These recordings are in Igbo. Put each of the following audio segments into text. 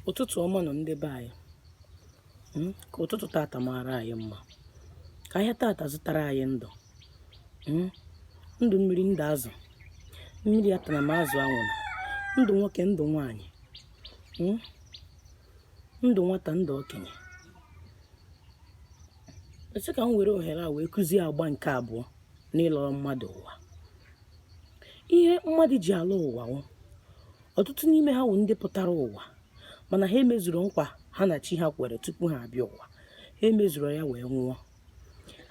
ụtụtụ ọma nụ ndị be anyị hmm? ka ụtụtụ tata maara anyị mma ka ahịa tata zụtara anyị ndụ hmm? ndụ mmiri ndụ azụ mmiri atana ma azụ anwụrụ ndụ nwoke ndụ nwanyị hmm? ndụ nwata ndụ okenye esi ka m were ohere a wee kụzie agba nke abụọ n'ịlọrọ mmadụ ụwa ihe mmadụ ji alọ ụwa ọtụtụ n'ime ha wụ ndị pụtara ụwa mana ha emezurọ nkwa ha na chi ha kwere tupu ha abịa ụwa ha emezurọ ya wee nwụọ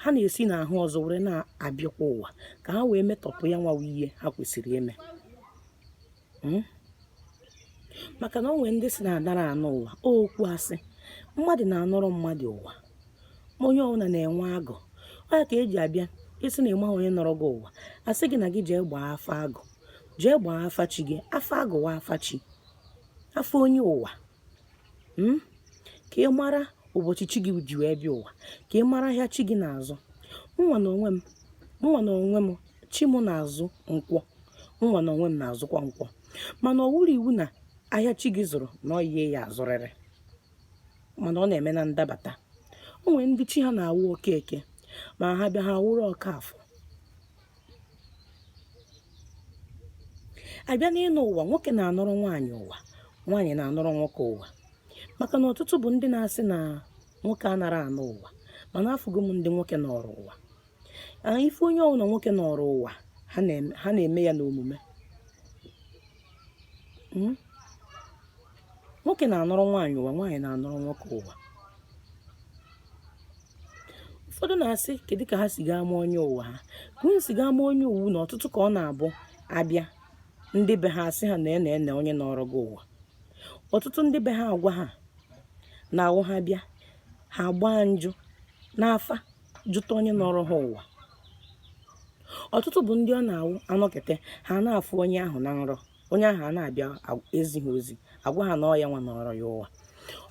ha na-esi n'ahụ ọzọ were na-abịakwa ụwa ka ha wee metọpụ ya nwa wụ ihe ha kwesịrị ime hmm? maka na o nwere ndị sị na adara anọ ụwa okwu asị mmadụ na-anọrọ mmadụ ụwa onye ọbụla na-enwe agụ ọ ya ka e ji abịa ị sị na ị maha onye nọrọ gị ụwa a sị gị na gị jee gbaa afa agụ jee gbaa afa chi gị afa agụ wụ afa chi afa onye ụwa hmm? ka ị mara ụbọchị chi gị ji wee bịa ụwa ka ị mara ahịa chi gị na-azụ nwa na onwe m nwa na onwe m chi m na-azụ nkwọ nwa na onwe m na-azụkwa nkwọ mana ọ wụrọ iwu na ahịa chi gị zụrụ na ọ ya ị ya-azụrịrị mana ọ na-eme na ndabata o nwere ndị chi ha na-awụ okeke ma ha bịa ha wụrụ okafọ a bịa n'ịnọ ụwa nwoke na-anọrọ nwaanyị ụwa nwaanyị na-anọrọ nwoke ụwa maka na ọtụtụ bụ ndị na-asị na nwoke anara anọ ụwa mana afụgo m ndị nwoke nọrọ ụwa ife onye ọbụla nwoke nọrọ ụwa ha na-eme ya n'omume hmm? nwoke na-anọrọ nwaanyị ụwa nwaanyị na-anọrọ nwoke ụwa ụfọdụ na-asị kedu ka ha si ga-ama onye ụwa ha ka unu si ga-ama onye ọ wụ na ọtụtụ ka ọ na-abụ abịa ndị be ha asị ha na nee nee onye nọrọ gị ụwa ọtụtụ ndị be ha agwa ha na-awụ ha bịa ha gbaa njụ n'afa jụta onye nọrọ ha ụwa ọtụtụ bụ ndị ọ na-awụ anọkete ha na-afụ onye ahụ na nrọ onye ahụ a na-abịa ezi ha ozi agwa ha na ọ ya nwa nọrọ ya ụwa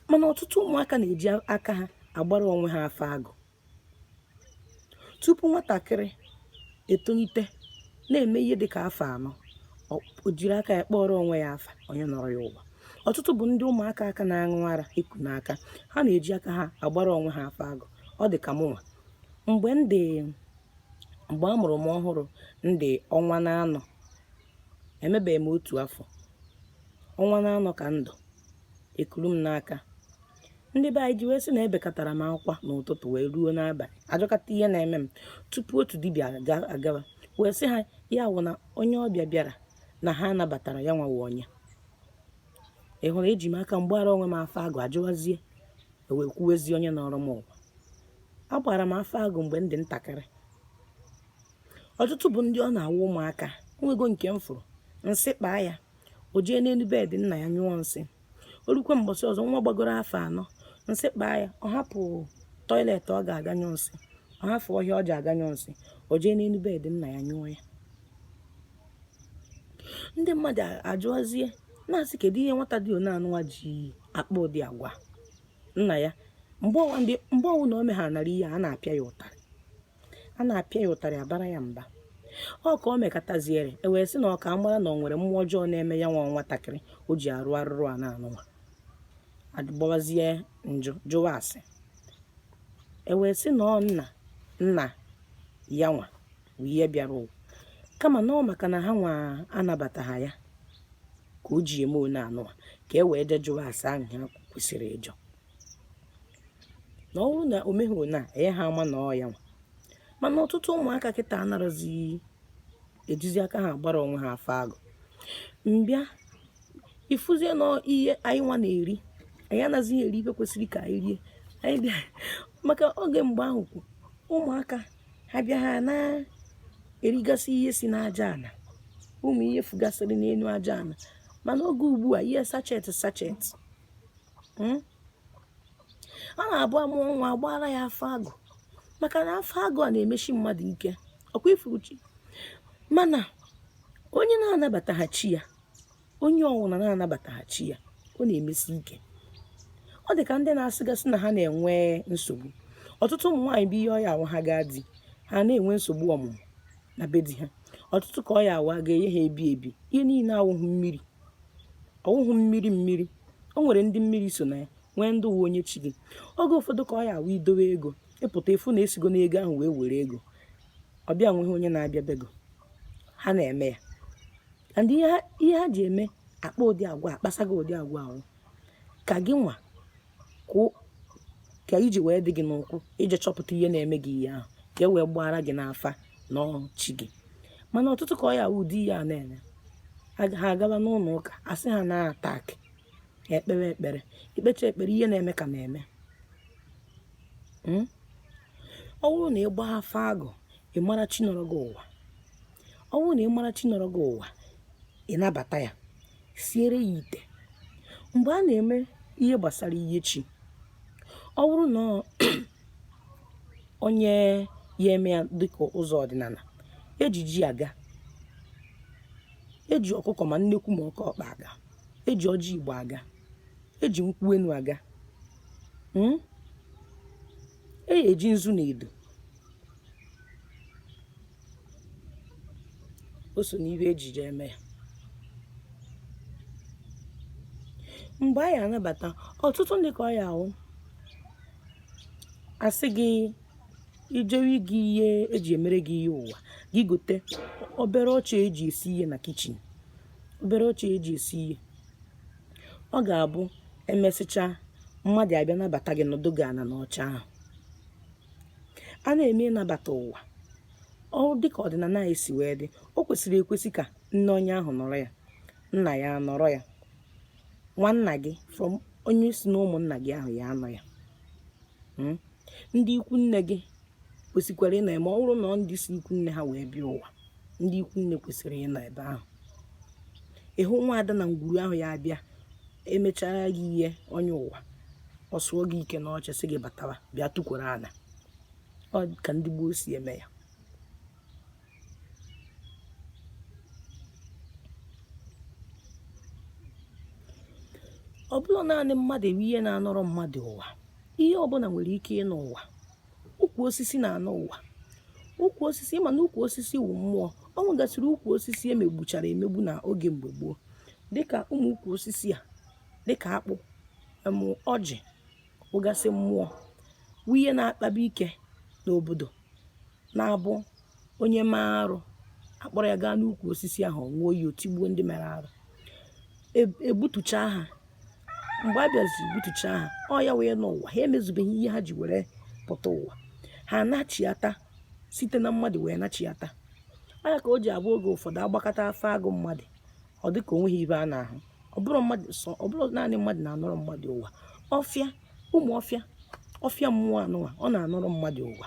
mana ọtụtụ ụmụaka na-eji aka ha agbara onwe ha afa agụ tupu nwatakịrị etolite na-eme ihe dị ka afọ anọ o jiri aka ya kpọrọ onwe ya afa onye nọrọ ya ụwa ọtụtụ bụ ndị ụmụaka ka na-aṅụ ara e ku n'aka ha na-eji aka ha agbara onwe ha afa agụ ọ dị ka mụnwa mgbe m dị mgbe a mụrụ m ọhụrụ m dị ọnwa naanọ emebeghị m otu afọ ọnwa naanọ ka m dụ ekuru m n'aka ndị be anyị ji wee sị na ebekatara m akwa n'ụtụtụ wee ruo n'abalị a jụkata ihe na-eme m tupu otu dibịa agawa wee sị ha ya wụ na onye ọbịa bịara na ha nabatara ya nwawa onye ị hụrụ eji m aka m gbara onwe m afa agụ a jụwazie e wee kwuwezie onye nọrọ m ụwa a gbara m afa agụ mgbe m dị ntakịrị ọtụtụ bụ ndị ọ na-awụ ụmụaka o nwego nke m fụrụ nsị kpaa ya o jee n'elu bed nna ya nyụọ nsị o rukwe mbọsị ọzọ nwa gbagoro afọ anọ nsị kpaa ya ọ hapụ toilet ọ ga-aga nyụọ nsị ọ hapụ ọhịa ọ ja-aga nyụọ nsị o jee n'elu bed nna ya nyụọ ya ndị mmadụ ajụọzie na-asị kedu ihe nwata dị one anụwa ji akpa ụdị agwa nna ya mgbe ọwụna o meghara nara ihe a na-apịa ya ụtarị a na-apịa ya ụtarị a bara ya mba ọ ka o mekataziere e wee sị na ọ ka mara na ọ nwere mmụọ ọjọọ na-eme ya nwa nwatakịrị o ji arụ arụrụana anụnwa a gbawazie njụ jụwa ase e wee sị na ọ nna nna ya nwa bụ ihe bịara ụwa kama na ọ maka na ha nwa anabataghị ya ka o ji eme one anụwa ka e wee jee jụwa ase ahụ ha kwesịrị ịjụ na ọ bụrụ na o meghị na enye ha ama na ọ ya nwa mana ọtụtụ ụmụaka kịta anarazi ejizi aka ha gbara onwe ha afa agụ mbịa ifuzie na ihe anyị nwa na-eri anyị anazighị eri ife kwesịrị ka anyị rie anyị bịa maka oge mgbe ahụ kwu ụmụaka ha bịa ha na-erigasị ihe si n'aja ala ụmụ ihe fugasịrị n'elu aja ala mana oge ugbu a ihe sachet sachet hmm? a na-abụ a mụọ nwa a gbara ya afa agụ maka na afa agụ a na-emesi mmadụ ike ọ kwa i furu chi mana onye na-anabataghị chi ya onye ọwụna na-anabataghị chi ya ọ na-emesi ike ọ dị ka ndị na-asịgasị na ha na-enwe nsogbu ọtụtụ ụmụ nwaanyị bụ ihe ọ ya awụ ha gaa di ha na-enwe nsogbu ọmụmụ na be di ha ọtụtụ ka ọ ya awụ a ga-enye ha ebi ebi ihe niile awụghị mmiri ọ wụghị mmiri mmiri o nwere ndị mmiri so na ya nwee ndị ọ wụ onye chi gị oge ụfọdụ ka ọ ya awụ i dowe ego ị pụta ị fụ na e sigo n'ego ahụ wee were ego ọ bịa nweghị onye na-abịa be gị ọ ha na-eme ya and ihe ha- ihe ha ji eme akpa ụdị agwa akpasa gị ụdị agwa ahụ ka gị nwa ka o- ka ije wee dị gị n'ụkwụ i jee chọpụta ihe na-eme gị ihe ahụ ka e wee gbaara gị n'afa na ọ wụ chi gị mana ọtụtụ ka ọ ya wụ ụdị ihe a na-eme ha agaba n'ụlọ ụka a sị ha na attack ekpere ekpere i kpecha ekpere ihe na-eme ka na-eme hmm? ọ bụrụ na ị gbaa afa agụ ị mara chi nọrọ gị ụwa ọ bụrụ na ị mara chi nọrọ gị ụwa ị nabata ya siere ya ite mgbe a na-eme ihe gbasara ihe chi ọ bụrụ na onye ya-eme ya dịka ụzọ ọdịnala e ji eji a ga-eji ọkụkọ ma nnekwu ma oke ọkpa a ga-eji ọjị igbo a ga-eji nkwụ enu a ga hmm? e eji nzu na edo o so n'ihe e jije eme ya mgbe a ya-anabata ọtụtụ ndị ka ọ ya ahụ a sị gị ijewe gị ihe eji emere gị ihe ụwa gị gote obere oche e ji esi ihe na kitchen obere oche e ji esi ihe ọ ga-abụ emesịcha mmadụ abịa nabata gị nọdụ gị ana n'oche ahụ a na-eme ịnabata ụwa dịka ọdịnala anyị si wee dị o kwesịrị ekwesị ka nne onye ahụ nọrọ ya nna ya nọrọ ya nwanna gị from onye si na ụmụnna gị ahụ ya anọ ya hmm? ndị ikwu nne gị kwesịkwara ịnọ ma ọ bụrụ na ndị si ikwu nne ha wee bịa ụwa ndị ikwu nne kwesịrị ịnọ ebe ahụ ịhụ nwa ada na ngwuru ahụ ya-abịa emechara gị ihe onye ụwa ọ sụọ gị ike n'oche sị gị batawa bịa tukwuru ala ọ ka ndị gboo si eme ya ọ bụrọ naanị mmadụ wụ ihe na-anọrọ mmadụ ụwa ihe ọbụla nwere ike ịnọ ụwa ukwu osisi na-anọ ụwa ukwu osisi ị ma na ukwu osisi wụ mmụọ ọ nwegasịrị ukwu osisi e megbuchara emegbu na oge mgbe gboo dịka ụmụ ukwu osisi a dịka akpụ em ọjị wụgasị mmụọ wụ ihe na-akpaba ike n'obodo na-abụ onye mee arụ a kpọrọ ya gaa n'ukwu osisi ahụ ọ ṅụọ ya o tigbuo ndị mere arụ egbutuchaa ha mgbe a bịaziri gbutucha ha ọ ya wee nọ ụwa ha emezubeghị ihe ha ji were pụta ụwa ha anachiata site na mmadụ wee nachiata ọ ya ka o ji abụ oge ụfọdụ a gbakata afa agụ mmadụ ọ dị ka o nweghị ibe a na-ahụ ọ bụrọ naanị mmadụ na-anọrọ mmadụ ụwa ọfịa ụmụ ọfịa ọfịa mmụọ anọ ụwa ọ na-anọrọ mmadụ ụwa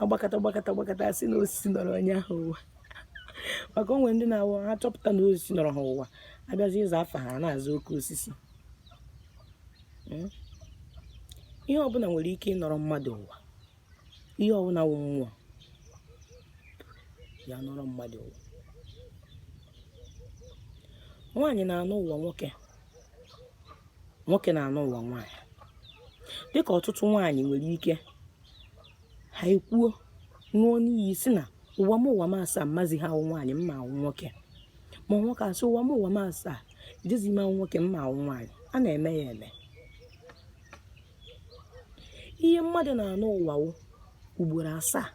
agbakọta gbakọta gbakọta asị na osisi nọrọ onye ahụ ụwa maka o nwere ndị na-awụ ha chọpụta na osisi nọrọ ha ụwa abịazi ịza afa ha na-aza oke osisi hmm? ihe ọbụla nwere ike ịnọrọ mmadụ ụwa ihe ọbụla wụ mmụọ ya nọrọ mmadụ ụwa nwaanyị na-anọ ụwa nwoke nwoke na-anọ ụwa nwaanyị dịka ọtụtụ nwaanyị nwere ike ha ekwuo ṅụọ n'iyi sị na ụwa m ụwa m asaa mmazi ha awụ nwaanyị mma awụ nwoke ma nwoke asị ụwa m ụwa m asaa ejezi m awụ nwoke mma awụ nwaanyị a na-eme ya eme ihe mmadụ na-anọ ụwa wụ ugboro asaa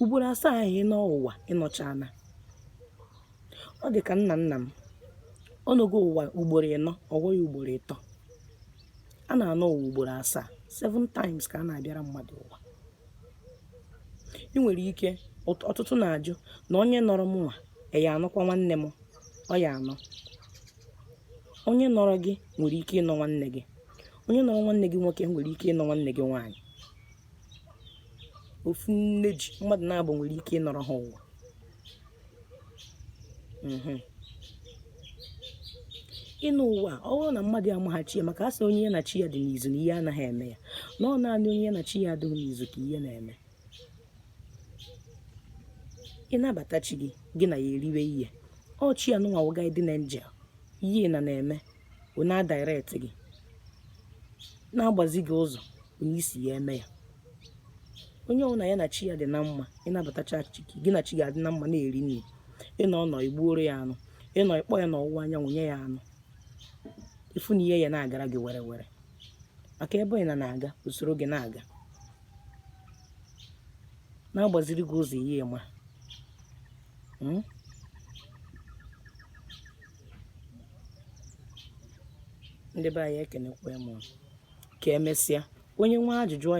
ugboro asaa ahụ ịnọ ụwa ịnọchana ọ dị ka nna nna m ọ nọgo ụwa ugboro ịnọ ọ fọ ya ugboro ịtọ a na-anọ ụwa ugboro asaa seven times ka a na-abịara mmadụ ụwa ị nwere ike ọtụtụ na-ajụ na onye nọrọ m nwa ya anọkwa nwanne m ọ ya anọ onye nọrọ gị nwere ike ịnọ nwanne gị onye nọrọ nwanne gị nwoke nwere ike ịnọ nwanne gị nwaanyị ofu nne ji mmadụ naabọ nwere ike ịnọrọ ha ụwa mhm. ịnọ ụwa ọ bụrụ na mmadụ amaghị chi ya maka asị onye ya na chi ya dị n'izu na ihe anaghị eme ya na ọ naanị onye ya na chi ya adịghị n'izu ka ihe na-eme ịnabata chi gị gị na ya eriwe ihe ọ chi ya nụnwa wụ guardian angel ihe na na-eme wee na-adirect gị na-agbazi gị ụzọ onye isi ya eme ya onye ọbụla ya na chi ya dị na mma ịnabatacha chi gị na chi gị adị na mma na-eri nri ịnọ nọ igbuoro ya anụ ịnọ ịkpọ ya n'ọwụwa anyanwụ nye ya anụ ịfụ na ihe ya na-agara gị were were maka ebe ị na na-aga o soro gị na-aga na-agbaziri gị ụzọ ihe ma hmm? ndị be anyị ekenekwa m ka emesịa onye nwe ajụjụ ọ jụa